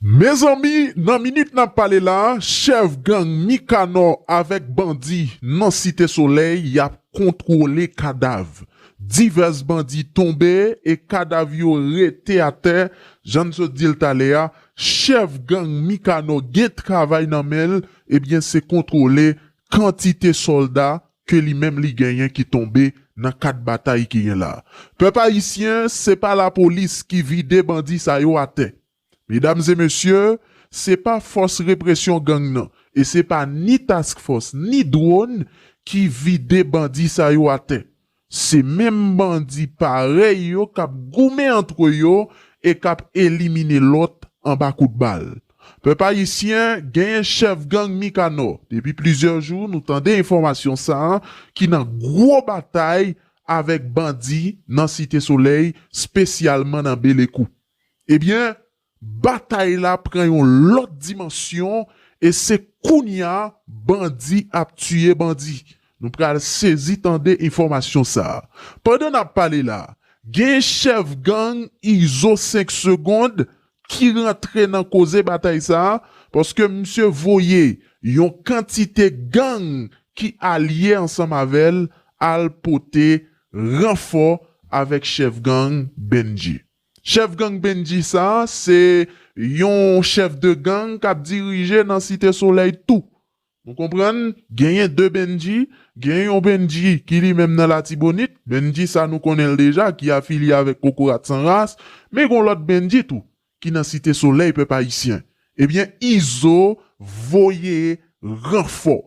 Mezanmi nan minit nap pale la chèf gang Mikanò avèk bandi nan site solèy yap kontwole kadav. Divès bandi tonbe e kadav yo rete atè jan n sot di l talè a chèf gang Mikanò gen travay nan men l ebyen se kontwole kantite sòlda ke li menm li genyen ki tonbe nan kad batay ki gen la. Pèp ayisyen se pa lapolis ki vide bandi sa yo atè. Medam e mesye, se pa fòs represyon gang nan e se pa ni task fòs ni dwon ki vide bandi sa yo atè. Se menm bandi parèy yo k ap goumen antre yo e k ap elimine lòt anba kout bal. Pèp ayisyen, genyen chèf gang Mikanò, depi plizyè jou nou tande enfòmasyon sa a, ki nan gwo batay avèk bandi nan Site Solèy, spesyalman nan Belekou. Ebyen, batay la pran yon lòt dimansyon e se kounya bandi ap tiye bandi. Nou pral sezi tande enfòmasyon sa. Pandan nap pale la, gen chèf gang Izo 5 segond ki rantre nan koze batay sa paske misye voye yon kantite gang ki alye ansanm avèl al pote ranfò avèk chèf gang Bendjy. Chèf gang Bendji sa a se yon chèf de gang kap dirije nan Site Solèy tou. Nou konprann genyen 2 Bendji, genyen yon Bendji ki li menm nan Latibonit, Bendji sa nou konnen l deja ki afilye avèk Kokorat San Ras, men gon lòt Bendji tou ki nan Site Solèy pèp ayisyen. Ebyen Izo voye ranfò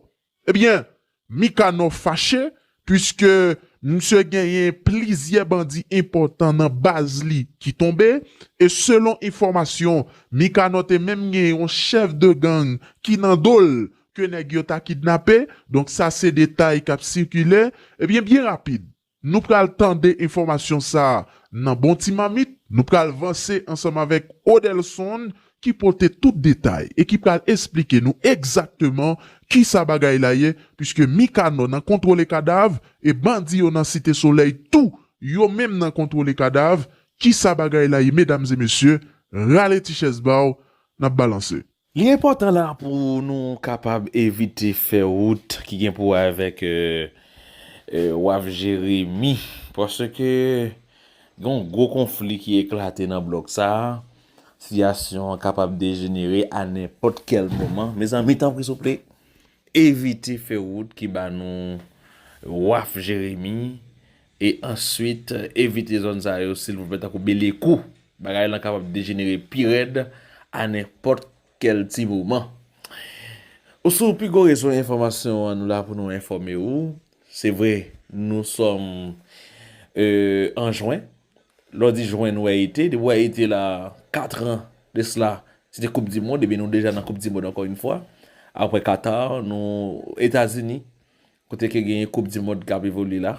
Ebyen, Mikanò fache puiske misye genyen plizyè bandi enpòtan nan baz li ki tonbe, e selon enfòmasyon, Mikanò te menm gen yon chèf de gang ki nan do l ke nèg yo ta kidnape, donk sa se detay k ap sikile, ebyen byen rapid, Nou pral tande enfòmasyon sa nan Bon Ti Mamit. Nou pral vanse ansanm avèk Odelson ki pote tout detay e ki pral esplike nou egzakteman kisa bagay la ye piske Mikanò nan kontwole kadav e bandi yo nan Site Solèy tou yo menm nan kontwole kadav. Kisa bagay la ye medam e mesye? Rale ti chèz ba w, n ap balanse. Li enpòtan la pou nou kapab evite fè wout ki gen pou wè avèk Waf Jeremi, paske gen yon gwo konfli ki eklate nan blòk sa a, sitiyasyon an kapab dejenere a nenpòt kèl moman. Mezanmi tanpri souple, evite fè wout ki ba nou Waf Jeremi. E answit evite zòn sa yo silvouplè tankou Belekou. Bagay lan kapab dejenere pi rèd a nenpòt kèl ti moman. Ou sou pi gwo rezo enfòmasyon an nou la pou nou enfòme ou. Se vre nou sòm an jwen. Lè w di jwen nou wè ete. Depi w wè ete la katran de sla se te koup di mond. Ebyen nou deja nan koup di mond ankò yon fwa. Aprè Katar nou Etazini Kote ke genyen koup di mond kap evolye la,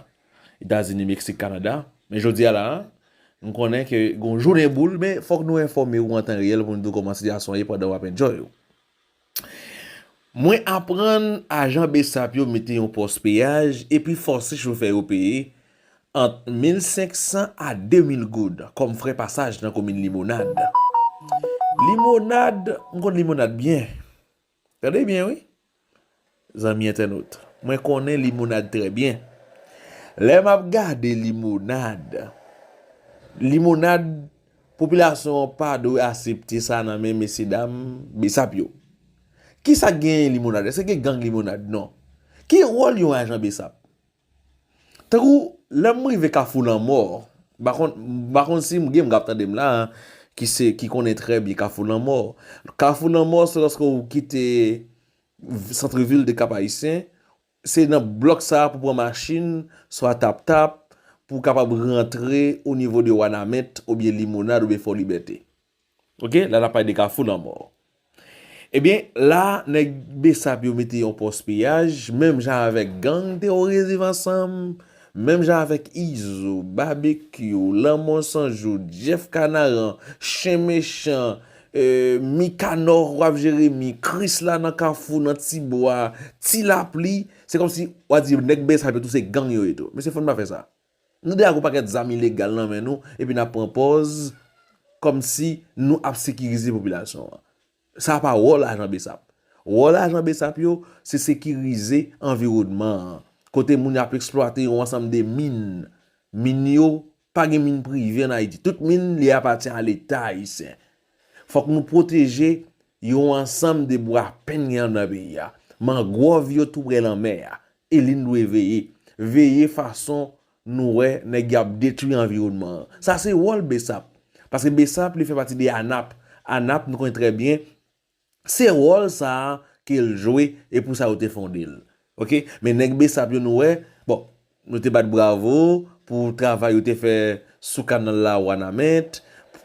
Etazini, Meksik, Kanada, men jodi a la a, nou konnen ke gon jounen boul, men fòk nou enfòme ou an tan reyèl pou nou di w kòman sitiyasyon an ye pandan wap enjoy ou. Mwen aprann ajan bsap yo mete yon pòs peyaj epi fòse chofè yo peye ant 1500 a 2000 goud kòm frè pasaj nan komin Limonad. Limonad, m konn Limonad byen. Tande byen wi, zanmi entènot, mwen konnen Limonad trè byen. Lè m ap gade Limonad, Limonad, popilasyon an pa dwe asepte sa nan men mesye dam Bsap yo. Ki sa k genyen Limonad? Èske gen gang Limonad? Non. Ki wòl yon ajan Bsap? Tankou lèm rive kafou lanmò, m pa konn si gen moun kap tande m la ki konnen trè byen kafou lanmò. Kafou lanmò se lòske ou kite santre vil de kap ayisyen, se nan blòk sa pou pran machin, swa tap tap, pou kapab rantre o nivo de wanament, oubyen limonad, oubyen fò libète. Ok la nap pale de kafou lanmò. Ebyen la nèg besap yo mete yon pòs piyaj menm jan avèk gang teworis viv ansanm, menm jan avèk izo, babekyou, lanmò san jou, jeff kanaran, chen mechan, mikanò wap jeremi, krisla nan kafou nan tibwa, tilapli, se kòmsi wap di nèg besap yo tou se gang yo ye tou. Mesye fò n pa fè sa. Nou deja gon pakèt zam ilegal nan men nou epi nap pran pòz kòmsi nou ap sekirize popilasyon an. Sa pa wòl ajan bsap. Wòl ajan bsap yo se sekirize anviwònman an. Kote moun yo ap eksplwate yon ansanm de min. Min yo, pa gen min prive an Ayiti. Tout min li apatyen a leta ayisyen. Fòk nou pwoteje yon ansanm de bwa pen gen andan peyi a. Mangwòv yo tou prè lanmè a. Eli n dwe veye. Veye fason nou wè nèg y ap detwi anviwònman an. Sa se wòl bsap. Paske bsap li fè pati de ANAP. ANAP nou konnen trè byen se wòl sa a ke l jwe e pou sa yo te fonde l. Ok. Men nèg bsap yo nou wè, bon nou te bat bravo pou travay yo te fè sou kanal la Wanament,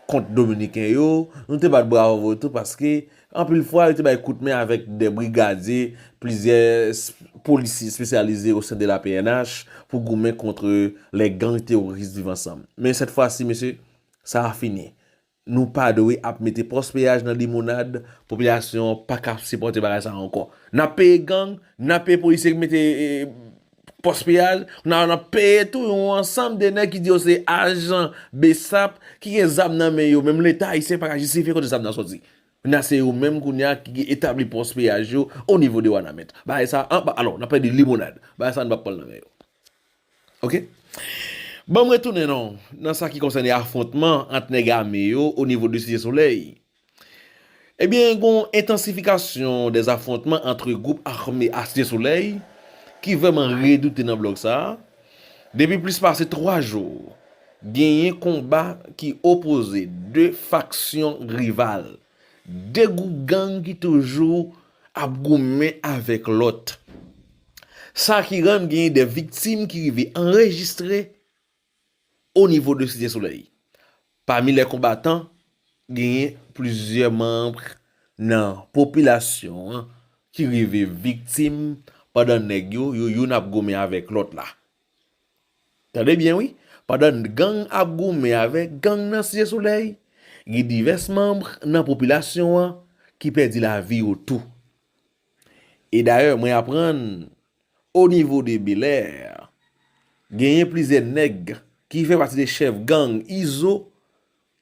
kont dominiken yo, nou te bat bravo tou paske Anpil fwa, yo te bay kout men avèk de brigadye, plizyè polisye espesyalize osen de la pnh pou goumen kontre lè gang teworis Viv Ansanm. Men sèt fwa si mesye, sa a fini. Nou pa dwe ap mete pòs peyaj nan limonad, popilasyon an pa ka sipòte bagay sa a ankò. N ap peye gang, n ap peye polisye ki mete Pòs piyaj, kounye a nap peye tou yon ansanm de nèg ki di yo se ajan bsap ki gen zam nan men yo, menm leta ayisyen paka jistifye kote zam nan sòti. Kounye a se yo menm kounye a ki etabli pòs piyaj yo o nivo de wanament. Bagay sa an pa alon, nap pale de limonad. Bagay sa an nou pap pranl nan men yo. Ok. Banm retounen non nan sa ki konsène afwontman ant nèg ame yo o nivo de site solèy. Ebyen gen yon entansifikasyon dè afwontman antre gwoup ame a Site Solèy ki vrèman redoute nan blòk sa a. Depi plis pase 3 jou, genyen konba ki opoze 2 faksyon rival, 2 gwoup gang ki toujou ap goumen avèk lòt. Sa ki rann genyen 2 viktim ki rive anrejistre. O nivo de Site Solèy, pami lè konbatan, genyen plizyè manb nan popilasyon an ki rive viktim pandan nèg yo, yo youn ap goumen avèk lòt la. Tande byen wi, pandan gang ap goumen avèk gang nan Site Solèy, gen divès manb nan popilasyon an ki pèdi lavi yo tou. E dayè mwen aprann o nivo de Belèr genyen plizyè nèg ki fè pati de chèf gang Izo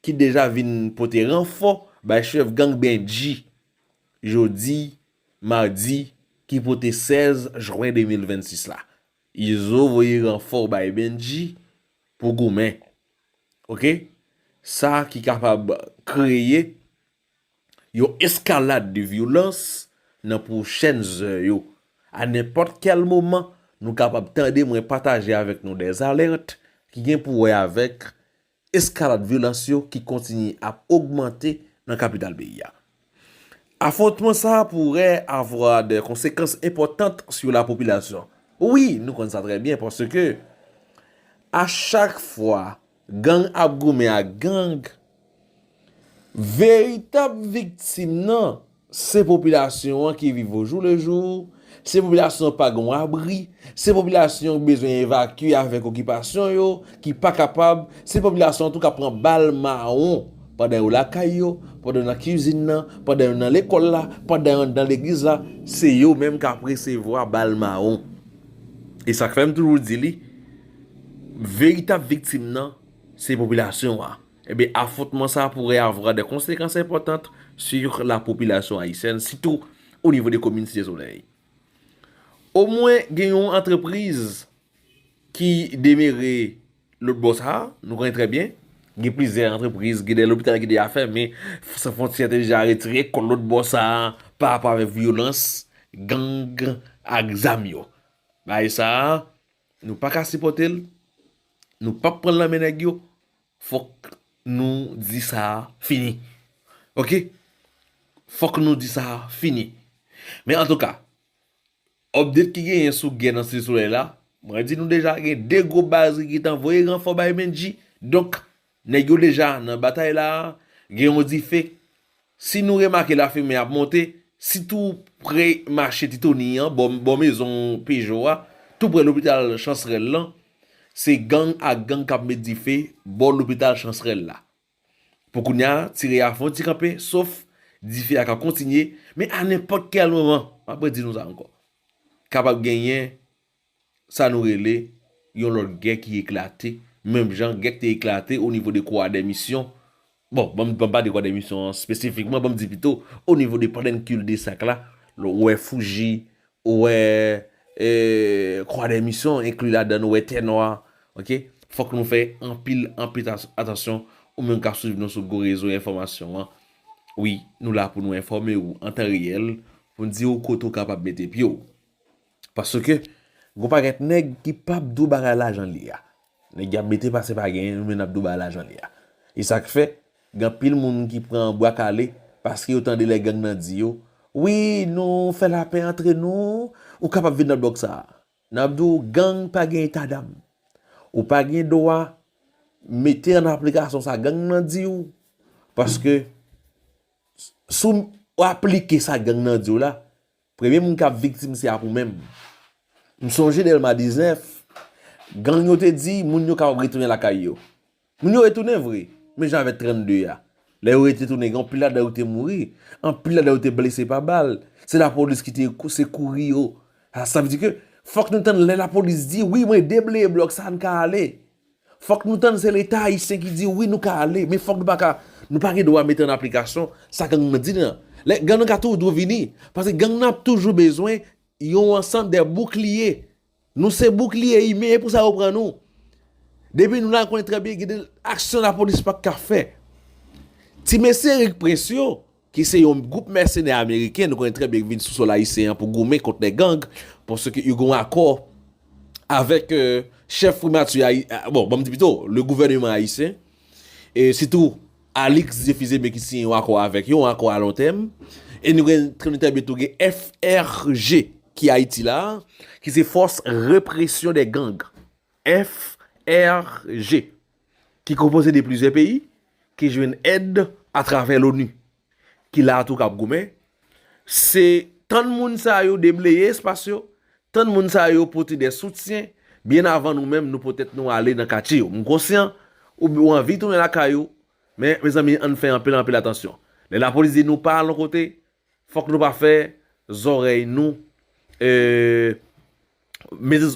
ki deja vin pote ranfò bay chèf gang Bendji jodi madi ki pote 16 jwen 2026 la. Izo voye ranfò bay Bendji pou goumen. Ok. Sa ki kapab kreye. Yon eskalad de vyolans nan pwochèn zè yo. A nenpòt kèl moman, nou kapab tande mwen pataje avèk nou dè alèrt ki gen pou wè avèk eskalad vyolans yo ki kontinye ap ogmante nan kapital peyi a. Afwontman sa a pourè avwa dè konsekans enpòtant sou la popilasyon. Wi, nou konn sa trè byen paske a chak fwa Gang ap goumen ak gang. Veritab viktim nan, se popilasyon an ki viv ojou le jou, se popilasyon an pa gen yon abri, se popilasyon an ki bezwen evakye avèk okipasyon yo, ki pa kapab, se popilasyon an tou kap pran bal mawon pandan yo lakay yo, pandan yo nan kizin nan, pandan yo nan lekòl la, pandan yo anndan legliz la, se yo menm kap resevwa bal mawon. E sak fèm toujou di li, Veritab viktim nan se popilasyon an. Ebyen afwontman sa pourrait avoir des conséquences importantes sur la population haïtienne, sitou au niveau de komin Site Solèy. Omwen gen yon antrepriz ki demere lotbò sa, nou konnen trè byen, gen plizyè antrepriz, gen de lopital ki deja fèmen, San Fwontyè te deja retire kò l lotbò sa pa rapò avèk vyolans gang ak zam yo. Bagay sa, Nou paka sipòte l, nou pap pran l nan men nèg yo, fòk nou di sa fini. Ok, fòk nou di sa fini. Men antouka, update ki genyen sou gè nan Site Solèy la, mwen di nou deja gen 2 gwo baz ki gentan voye ranfò bay Bendji, donk Nèg yo deja nan batay la a, gen yon dife. Si nou remake lafimen ap monte, si tou pre mache Ti Toni an, bò bò mezon Pejo a, tou pre lopital Chansrèl lan, se gang ak gang k ap met dife bò lopital Chansrèl la. Pou kounya, tire a fè yon ti kanpe, sof, dife a ka kontinye, men a nenpòt kèl moman, m ap redi nou sa ankò, kapab genyen sa nou rele yon lòt gè ki eklate, menm jan gè ki te eklate o nivo de Croix des Missions, bon, ban m pale de Croix des Missions an espesifikman, ban m di pito, o nivo de Palenque de Sac la, lè w wè Fouji, ou wè Croix des Missions, enkli ladan nou wè Tènwa, ok, fòk nou fè anpil, anpil atansyon, ou menm k ap swiv nou sou gwo rezo enfòmasyon an, wi, nou la pou nou enfòme ou an tan reyèl, pou n di ou kote ou kapab mete pye w. Paske gon pakèt nèg ki pap di w bagay lajan li a. Nèg y ap mete pase pa genyen yo men n ap di w bagay lajan li a. E sa k fè, gen anpil moun ki pran bwa kale paske yo tande lè gang nan di yo, wi nou fè lapè antre nou, ou kapab vin nan blòk sa a. N ap di w gang pa gen etadam. Ou pa gen dwa mete an aplikasyon sa gang nan di w. Paske si w aplike sa gang nan di w la, Premye moun kap viktim se ak ou menm. M sonje Dèlma 19, gang yo te di moun yo kapab retounen lakay yo. Moun yo retounen vre, men jan avèk 32 a. Lè yo retounen gen anpil ladan yo te mouri, anpil ladan yo te blese pa bal, se lapolis ki te sekouri yo. Sa vle di ke fòk nou tann lè lapolis di wi mwen debleye blòk sa an ka ale. Fòk nou tann se leta ayisyen ki di wi nou ka ale men fòk nou pa ka nou pa gen dwa mete an aplikasyon sa gang nan di nan. Lè gang nan ka tou dwe vini paske gang nan ap toujou bezwen yon ansanm dè boukliye. Nou se boukliye imen e pou sa yo pran nou. Depi nou la konnen trè byen gen de aksyon lapolis pa t ka fè. Ti mesye Erik Prince yo. ki se yon gwoup mèsenè ameriken, nou konnen trè byen ki vin sou sòl ayisyen an pou goumen kont nèg gang, paske yo gen yon akò avèk chèf primati ayi, bon, banm di pito, le gouvèneman ayisyen, e sitou Alix Zefizeme ki siyen yon akò avèk yo, yon akò a lon tèm, e nou gen konnen trè byen tou gen FRG ki Ayiti la a, ki se fòs represyon dè gang, FRG. ki konpoze de plizyè peyi ki jwenn èd atravè loni ki la tou kap goumen se tann moun sa yo debleye espas yo tann moun sa yo pote de soutyen byen avan nou menm nou pote tèt nou ale nan katye yo m konsyan ou anvi tounen lakay ou men mezanmi ann fè anpil anpil atansyon lè lapolis di nou pa al yon kote Fòk nou pa fè zòrèy nou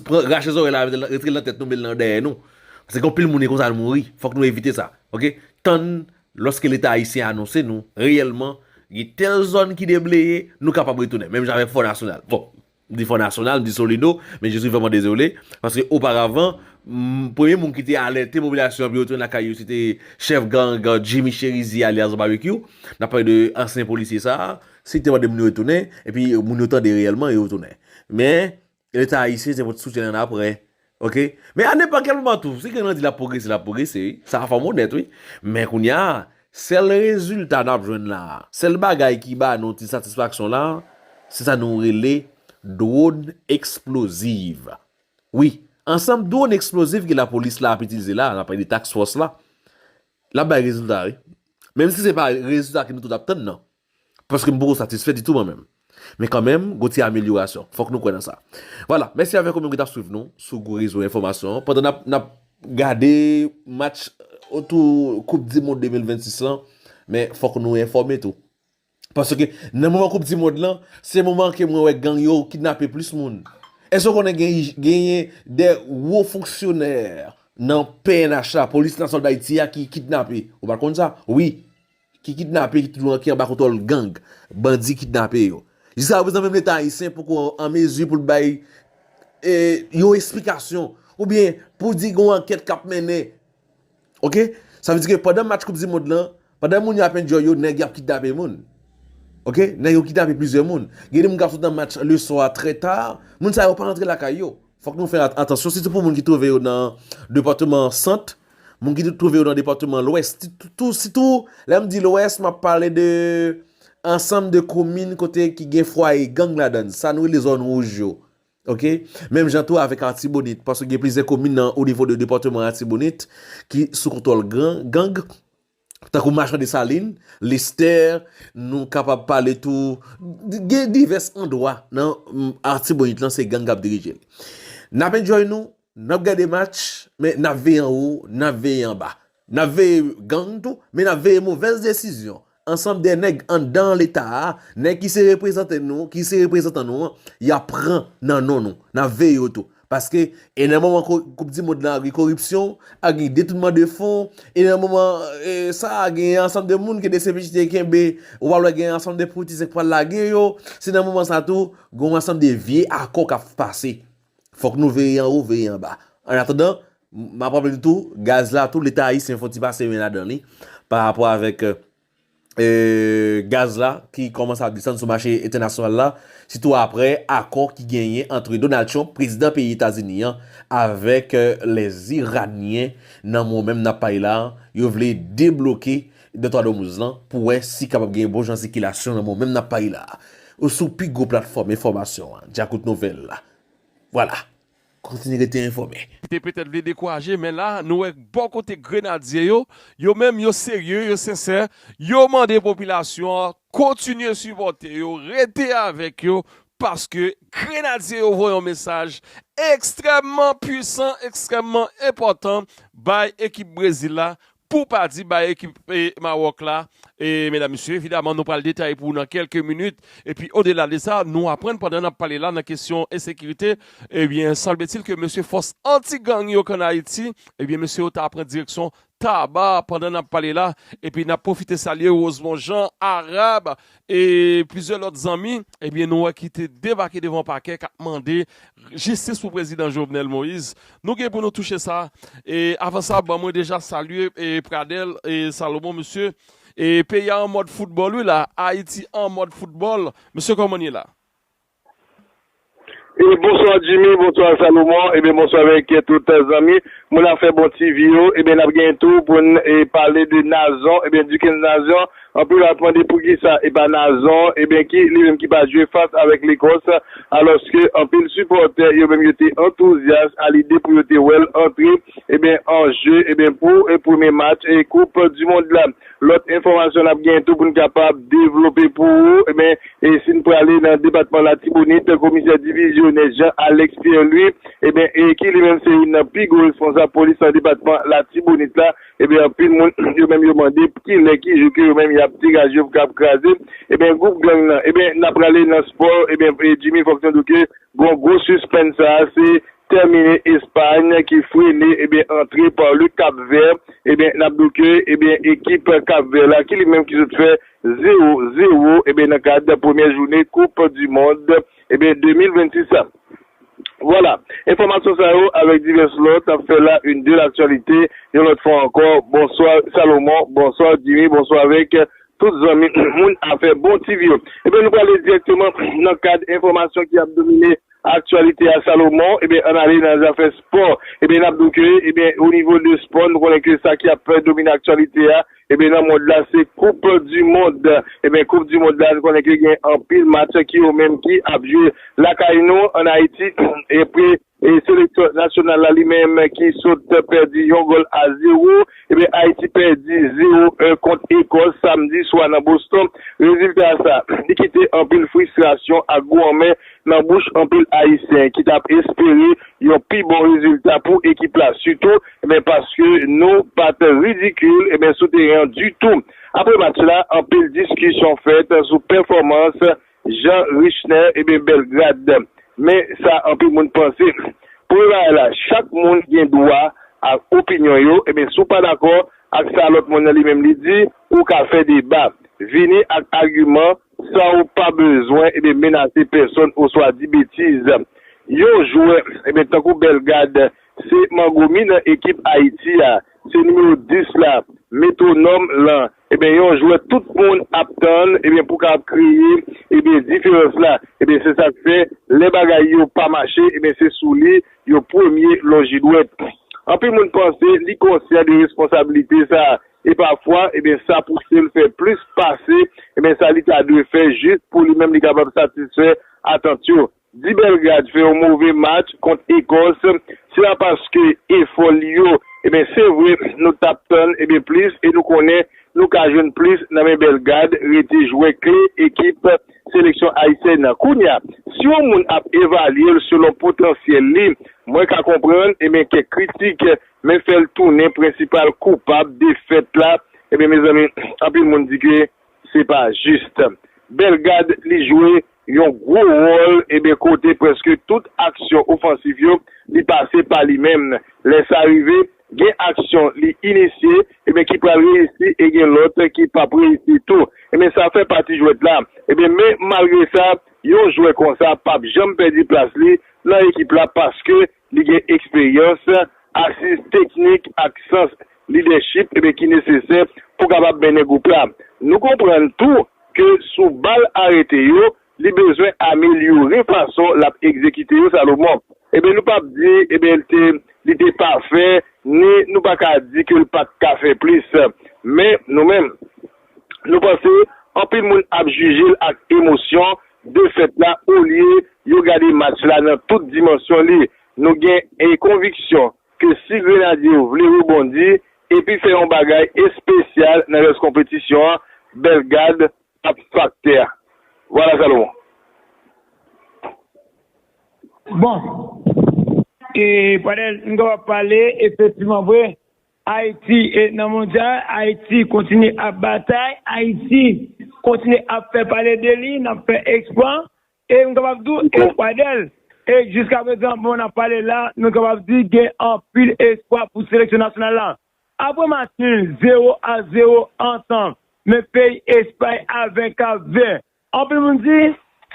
pran rache zòrèy la retirel nan tèt nou mete l nan dèyè nou paske gen anpil moun e konsa yo mouri fòk nou evite sa ok tann lòske leta ayisyen anonse nou reyèlman gen tèl zòn ki debleye nou kapab retounen menm jan avèk fò nasyonal bon M di Fò Nasyonal, m di Solido, men je swi vrèman dezole, paske oparavan, premye moun ki te alète popilasyon an pou yo tounen lakay yo, se te chèf gang Jimmy Cherizier alyas Babekyou, n ap pale de ansyen polisye sa a, si li te mande moun yo tounen, epi moun yo tande reyèlman, yo tounen. Men, Leta Ayisyen se pot soutyen annapre. Ok, men a nenpòt kèl moman tou, si gen nan di lap pwogrese, lap pwogrese wi, sa fòm onèt wi. Men kounya, sèl rezilta nap jwenn la, sèl bagay ki ba nou ti satisfaksyon la, se sa nou rele dron eksploziv. Wi, ansanm dron eksploziv ke lapolis la ap itilize la, nap pale de task fòs la, lap bay rezilta wi. Menm si se pa rezilta ke nou tout ap tann nan. Paske m poko satisfè ditou mwen menm. Men kanmenm, gon ti amelyorasyon. Fòk nou kwè nan sa. Vwala, mèsi avèk ou menm ki t ap swiv nou sou gwo rezo enfòmasyon an pandan n ap gade match otou koup di mond 2026 lan. Men fòk nou enfòme tou. Paske nan moman koup di mond lan, se moman ke mwen wè gang yo kidnape plis moun. Èske ou konnen genyen de wo fonksyonè nan pnh la, polis nasyonal Dayiti a ki kidnape? Ou pa t konn sa? Wi. ki kidnape ki toujou ki anba kontwòl gang, bandi kidnape yo. Jiska prezan menm leta ayisyen poko an mezi pou l bay yon esplikasyon oubyen pou di gen yon ankèt k ap mennen. Ok, sa vle di ke pandan match koup di mond lan, pandan moun yo ap enjoy yo, nèg yo ap kidnape moun. Ok, nèg yo kidnape plizyè moun. Gen de moun k ap sot nan match le swa trè ta, moun sa yo pa rantre lakay yo. Fòk nou fè atansyon sitou pou moun ki twouve yo nan depatman Sant, moun ki twouve yo nan depatman Lwès. Sitou, lè m di Lwès, m ap pale de ansanm de komin kote ki gen fwaye gang ladan l, sa nou rele zòn wouj yo. Ok? Menm jan tou avèk Atibonit, paske gen plizyè komin nan onivo de depatman Atibonit ki sou kontwòl gang. Tankou Machan Desalin, Lestè, nou kapab pale tou, gen divès andwa nan Artibonit lan se gang k ap dirije l. N ap enjoy nou, n ap gade match, men n ap veye anwo, n ap veye anba. N ap veye gang tou, men n ap veye movèz desizyon ansanm de nèg anndan Leta a, nèg ki se reprezante nou, ki se reprezantan nou an, y ap pran nan non nou. N ap veye yo tou. Paske, e nan moman koup di mond la gen koripsyon, ap gen detounman de fon, e nan moman sa a gen yon ansanm de moun ke dcpj te kenbe, ou pral wè gen yon ansanm de politisyen k pral lage yo, se nan moman sa tou, gen yon ansanm de vye akò k ap pase. Fòk nou veye an wo, veye an ba. An atandan, m ap raple nou tou, gaz la tou, leta ayisyen fò ti pase men ladan li, pa rapò avèk. gaz la ki kòmanse ap desann sou mache entènasyonal la, sitou aprè akò ki genyen antre Donald Trump, prezidan peyi Etazini an, avèk Lèziranyen nan moman menm n ap pale la, yo vle debloke Dètwa Dòmouz lan pou wè si kapab gen bon jan sikilasyon nan moman menm n ap pale la. Sou pi gwo platfòm enfòmasyon an, Dyakout Nouvèl, vwala. Kontinye rete enfòme. Li te petèt vle dekouraje, men la nou wè bò kote Grenadye yo, yo menm yo serye, yo sensè, yo mande popilasyon an kontinye sipòte yo, rete avèk yo, paske Grenadye yo voye yon mesaj ekstrèmman pwisan, ekstrèmman enpòtan bay ekip Brezil la Pou pa di bay ekip Mawòk la, medam mesye, evidaman nou pral detaye pou ou nan kèlke minit, epi odela de sa, nou aprann pandan nap pale la nan kesyon ensekirite, ebyen sanble-t-il ke mesye fòs anti gang yo kan Ayiti, ebyen mesye yo ta pran direksyon Taba pandan nap pale la, epi nap pwofite salye Rosemond Jean, Arab, e plizyè lòt zanmi ebyen nou wè ki te debake devan pakè kap mande jistis pou prezidan Jovenel Moïse nou gen pou nou touche sa e avan sa ban mwen deja salye Pradel Salomon mesye peyi a an mòd foutbòl wi la Ayiti an mòd foutbòl mesye kòman nou ye la. E bonswa Jimmy bonswa Salomon ebyen bonswa avèk tout zanmi moun afè bon TV yo ebyen nap gen tou poun e pale de Nazon ebyen Duckens Nazon anpil ap mande poukisa epa Nazon ebyen ki li menm ki pa jwe fas avèk Lekòs alòske anpil sipòtè yo menm yo te antouzyas a lide pou yo te wèl antre ebyen an jeu ebyen pou premye match e koup du mond la. Lòt enfòmasyon n ap genyen tou pou n kapab devlope pou ou, enben, si n prale nan depatman Latibonit, komisè divizyonè Jean Alex Pierre Louis, enben, ki li menm se youn nan pi gwo responsab polis nan depatman Latibonit la, enben, anpil moun, yo menm yo mande ki lè, ki jou ke yo menm y ap degaje yo pou kapab kraze, enben, gwoup gang nan. Enben, n a prale nan spò, enben, Jimmy fòk nou di w ke gen yon gwo sispens sa a, se tèmine Espagn ki frene ebyen antre pa le Kap Vè ebyen nap di w ke ebyen ekip Kap Vè la ki li menm ki sot fè 0, 0 ebyen nan kad premyè joune koup di mond ebyen 2026 la. Vwala, enfòmasyon sa yo avèk divès lòt ap fè la une de l'actualité yon lòt fwa ankò bonswa Salomon, bonswa Jimmy, bonswa avèk tout zanmi moun afè bon TV yo. Ebyen nou prale dirèkteman nan kad enfòmasyon ki ap domine. Aktyalite a Salomon, ebyen ann ale nan zafè spò, ebyen nap di w ke ebyen o nivo de spò nou konnen ke sa ki ap domine aktyalite a ebyen nan mond la se koup di mond, ebyen koup di mond la nou konnen ke gen anpil match ki yo menm ki ap jwe lakay nou an Ayiti epre seleksyon nasyonal la li menm ki sot pèdi yon gòl a zewo, ebyen Ayiti pèdi zewo un kont Ekòs samdi swa nan Boston, rezilta sa li kite anpil fristrasyon ak gou anmè nan bouch anpil Ayisyen ki tap espere yon pi bon rezilta pou ekip la sitou men paske nou pat ridikil men sou teren an ditou. Apre match la anpil diskisyon fèt sou pèfòmans Jean Richner Belgrade men sa anpil moun panse premye bagay la chak moun gen dwa a opinyon yo si w pa dakò ak sa lòt moun nan li menm li di ou ka fè deba vini ak agiman San ou pa bezwen ebyen menase pèsonn oswa di betiz. Yon jwè ebyen tankou Bellegarde se mango mi nan ekip Ayiti a, se nimewo 10 la, metwonòm lan, ebyen yon jwè tout moun ap tann ebyen pou kapab kreye ebyen diferans la. Ebyen se sak fè lè bagay yo pa mache ebyen se sou li yo premye lonji dwèt. Anpil moun panse li konsyan de responsabilite sa. E pafwa, ebyen sa pouse l fè plis pase, ebyen sa li ta dwe fè jis pou li menm li kapab satisfè atant yo. Di Belgrad fè yon move match kont Ekòs, se a paske efò li yo, ebyen se vre nou t ap tann, ebyen plis e nou konnen nou ka jwenn plis nan men Belgad rete jwè kle ekip seleksyon ayisyèn nan. Kounye a, si yon moun ap evalye l selon potansyèl li, mwen ka konprann, ebyen kèk kritik men fè l tounen prensipal koupab defèt la, ebyen mezanmi anpil moun di ke se pa jis. Bellegarde li jwe yon gwo wòl ebyen kote prèske tout aksyon ofansif yo li pase pa li menm, lè sa rive gen aksyon li inisye ebyen ki pral reyisi e gen lòt ki pap reyisi tou, ebyen sa fè pati jwèt la, ebyen men malgre sa yon jwè konsa pap janm pèdi plas li nan ekip la paske Li gen eksperyans, asiz teknik ak sans lidèchip ki nesesè pou kapab mennen gwoup la. Nou konprann tou ke sou bal arete yo, li bezwen amelyore fason l ap egzekite yo, Salomon. Nou p ap di li te pafè, ni nou pa ka di ke l pa t ka fè plis. Men, nou menm. Nou panse anpil moun ap jije l ak emosyon defèt la olye yo gade match la nan tout dimansyon li. Nou gen konviksyon ke si Grenadye yo vle rebondi epi fè yon bagay espesyal nan rès konpetisyon an, Belgad ap faktè a. Vwala Salomon. Bon, Pradel, m kapab pale efektivman vre Ayiti e nan mondyal, Ayiti kontinye ap batay, Ayiti kontinye ap fè pale de li, n ap fè eksplwa, e m kapab di w espwa dèl. E jiskaprezan moman n ap pale la, nou kapab di gen anpil espwa pou seleksyon nasyonal la. Aprè match nul 0 a 0 antan men peyi Espay a 20 Kap Vè, Anpil moun di,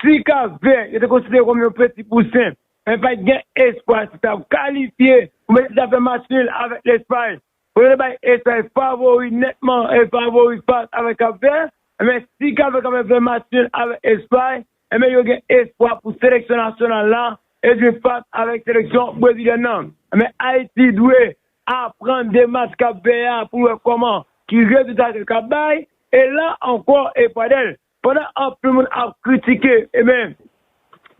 si Kapvè, yo te konsidere kòm yon peti pousen, men pa t gen espwa si t ap kalifye pou mete zafè match nil avèk Lespay. Kote yo te bay Espay favori nètman e favori fas avèk Kapvè, enben si Kapvè kapab fè match nil avèk Espay, enben yo gen espwa pou seleksyon nasyonal la e jwe fas avèk seleksyon brezilyèn nan. Enben Ayiti dwe Aprann demach kap fè a pou wè kòman ki rezilta ke kap bay e la ankò e Pradèl pandan anpil moun ap kritike enben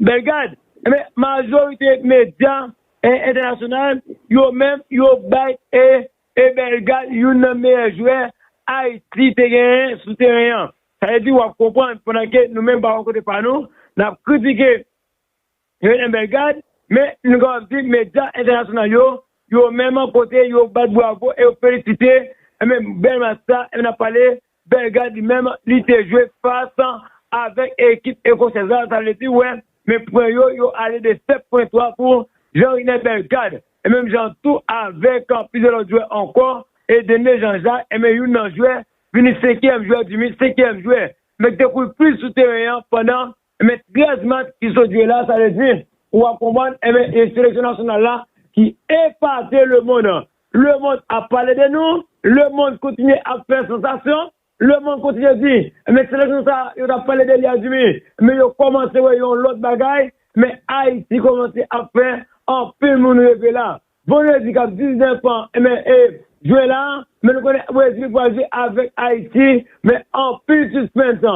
Bellegarde enben majorite medya entènasyonal yo menm yo bay e e Bellegarde youn nan meyè jwè Ayiti te genyen sou teren an sa vle di wap konprann pandan ke nou menm pa bò kote pa nou nap kritike Helen Bellegarde, Men, nou kapab di medya entènasyonal yo, yo menm kote yo bat bwavo e yo felisite, enben, bèl match sa, enben, n ap pale Bellegarde li menm, li te jwe fas avèk ekip ecossèz la, sa vle di, wè, men pwen yo, yo ale de 7 pwen 3 pou Jean-Rene Bellegarde. E menm jan tou avèk plizyè lòt jwè ankò, e Denis Jean-Jacques, enben, youn nan jwè, vini senkyèm jwè di mi, senkyèm jwè, men ki te kouri plis sou teren an pandan Men 13 mats ki sot jwe la, sa vle di, ou ap konprann, enben e seleksyon nasyonal la ki epate lemond an. Lemond ap pale de nou, lemond kontinye ap fè sansasyon, lemond kontinye di, men seleksyon sa yo t ap pale de li a dimi, men yo kòmanse wè yon lòt bagay, men Ayiti kòmanse ap fè anpil moun reve la. Bon redi kap 19 an men ep jwe la men nou konnen brezil pral jwe avek ayiti men anpil suspens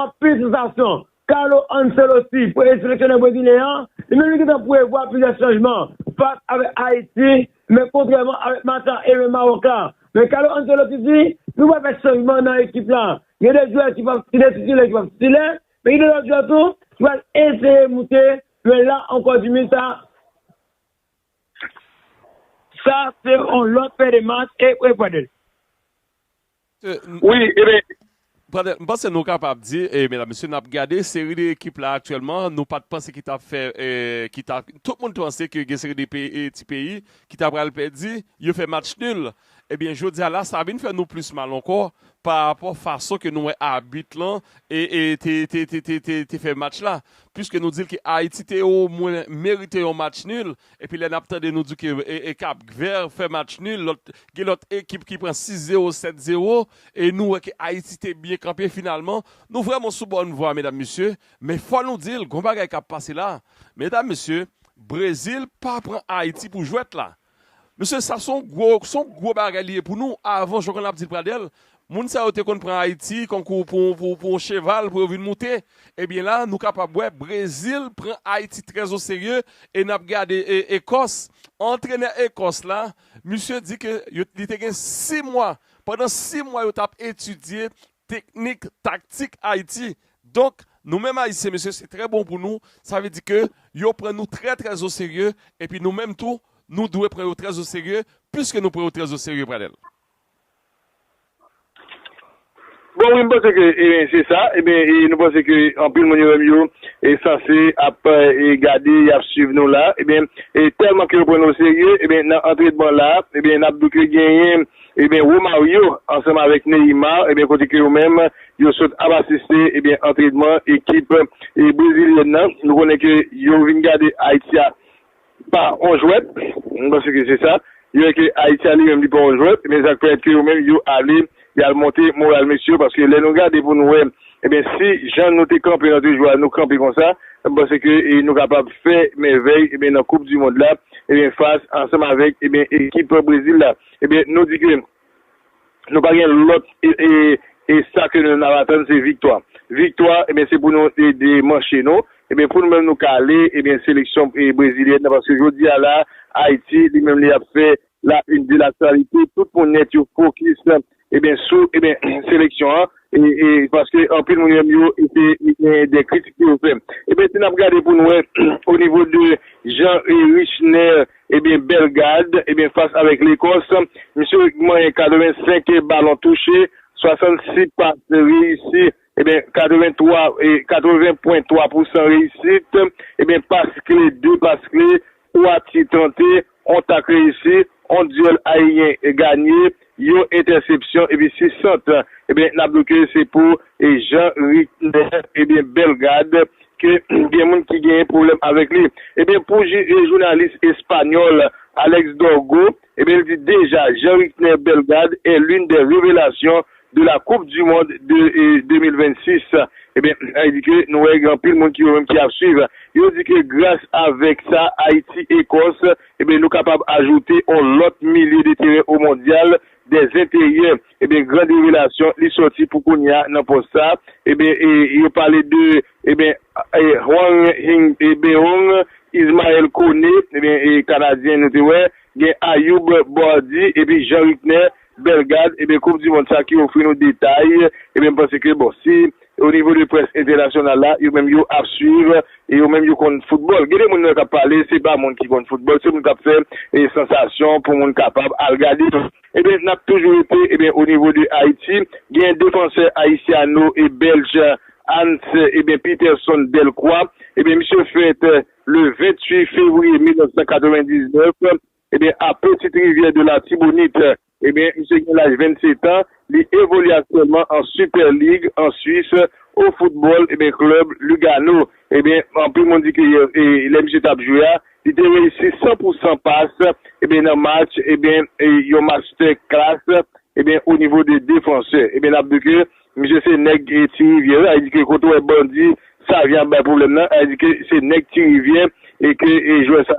anpil sansasyon Carlo Ancelotti premye seleksyonè brezilyen an li menm li gentan prevwa plizyè chanjman fas avek ayiti men kontrèman avek match la e men mawòk la men Carlo Ancelotti di nou pral fè chanjman nan ekip la gen de jwè ki pap ki de titilè ki pap titilè men gen de lòt jwè tou ki pral eseye moute men la ankò di misa. Sa se yon lòt pè de mas e wi Pradel. Wi e ben. Pradel, m panse nou kapab di e medam mesye n ap gade seri de ekip la aktyèlman nou pat panse ki t ap fè e ki ta tout moun t panse ke gen seri de ti peyi ki ta pral pèdi yo fè match nul Ebyen jodia la sa vin fè nou plis mal ankò pa rapò fason ke nou wè abit lan te fè match la. Puiske nou dil ke Ayiti te o mwen merite yon match nul epi lè nap tande nou di ke Kap Vert fè match nul lòt gen lòt ekip ki pran 6 zero 7 zero e nou wè ke Ayiti te byen kanpe finalman nou vrèman sou bòn vwa medam mesye men fò nou dil gon bagay kap pase la medam mesye Brezil pa pran Ayiti pou jwèt la Mesye sa son gwo son gwo bagay li ye pou nou avan jan konn ap dil pradèl moun sa yo te konn pran ayiti kankou pou pou pou yon cheval pou yo vin moute ebyen la nou kapab wè brezil pran ayiti trè o serye e nap gade e ekòs antrenè ekòs la misye di ke yo li te gen 6 mwa pandan 6 mwa yo tap etidye Teknik, taktik Ayiti. Donk, nou menm Ayisyen, mesye, se trè bon pou nou. Sa vle di ke yo pran nou trè trè oserye. Epi nou menm tou, nou dwe pran yo trè oserye. Piske nou pran yo trè oserye, Pradel. Bon wi, m panse ke se sa. Ebyen, nou panse ke anpil moun yo menm yo sanse ap gade, y ap swiv nou la. Ebyen, tèlman ke yo pran nou oserye, ebyen, nan antredman la, ebyen, n ap di ke genyen. Ebyen Romario ansanm avèk Neymar ebyen kote ke yo menm yo sot ap asiste ebyen antrenman ekip brezilyèn nan nou konnen ke yo vin gade Ayiti a pa on jwèt m panse ke se sa yo wè ke Ayiti a li menm li pa on jwèt ebyen sak pèmèt ke yo menm yo ale yal monte moral mesye yo paske lè nou gade pou nou wè ebyen si jan nou te kanpe nan de jou a nou kanpe konsa m panse ke nou kapab fè mèvèy ebyen nan koup di mond la ebyen fas ansanm avèk ebyen ekip brezil la. Ebyen nou di ke nou pa gen lòt e sa ke nou nap atann se viktwa. Viktwa ebyen se pou nou ede manche nou ebyen pou nou menm nou ka ale ebyen seleksyon brezilyèn nan paske jodi a la Ayiti li menm li ap fè la une de l'actualité tout moun nèt yo fokis ebyen sou ebyen seleksyon an e paske anpil moun menm yo ete gen de kritik pou yo fè ebyen si nap gade pou nou wè o nivo de Jean Richner ebyen Bellegarde ebyen fas avèk Lekòs misye manyen 85 balon touche 66 pas reyisi ebyen 83 e 80 pwen 3 pousan reyisit ebyen pas kle 2 pas kle Ou a ti tante, on tak reyisi, on duel aeryen ganye, yo entèsepsyon epi 6 sant. Ebyen nap do ke se pou Jean Rickner ebyen Bellegarde ke gen moun ki genyen pwoblèm avèk li. Ebyen pou jounalis espanyòl Alex Dorgo Ebyen l di deja Jean Rickner Bellegarde est l'une des revelations de la coupe du monde de 2026 ebyen sa vle di ke nou wè gen anpil moun ki yo menm ki ap swiv yo di ke gras avèk sa Ayiti Ekòs ebyen nou kapab ajoute on lòt milye de teren o mondyal des enteryè. Ebyen grand revelasyon li soti pou kounya nan pòs sa ebyen e yo pale de ebyen Hwang Hing Beong, Ismael Kone ebyen e kanadyen nou te wè gen Ayoub Boardi epi Jean Ricner Bellegarde ebyen koup di mond sa ki ofri nou detay ebyen m panse ke bon si o nivo de près entènasyonal la yo menm yo ap swiv e yo menm yo konn foutbòl gen de moun nou wè kap pale se pa moun ki konn foutbòl se moun kap fè sansasyon pou moun kapab al gade. Ebyen nap toujou rete ebyen o nivo de Ayiti gen defansè Ayisyano e Bèlj Hans ebyen Peterson Delcroix ebyen misye fèt le 28 fevriye 1999 ebyen a Petite Rivière de l'Artibonite ebyen misye gen laj 27 an li evolye aktyèlman an Super League an Swis o football ebyen klub Lugano ebyen anpil moun di ke lè misye tap jwe a Li te reyisi san pou san pas ebyen nan match ebyen yon mastè klas ebyen o nivo de defansè ebyen nap di ke misye se nèg ti rivyè sa vle di ke kote w wè bandi savyen ap bay pwoblèm nan sa vle di ke se nèg ti rivyè e ke jwè sa.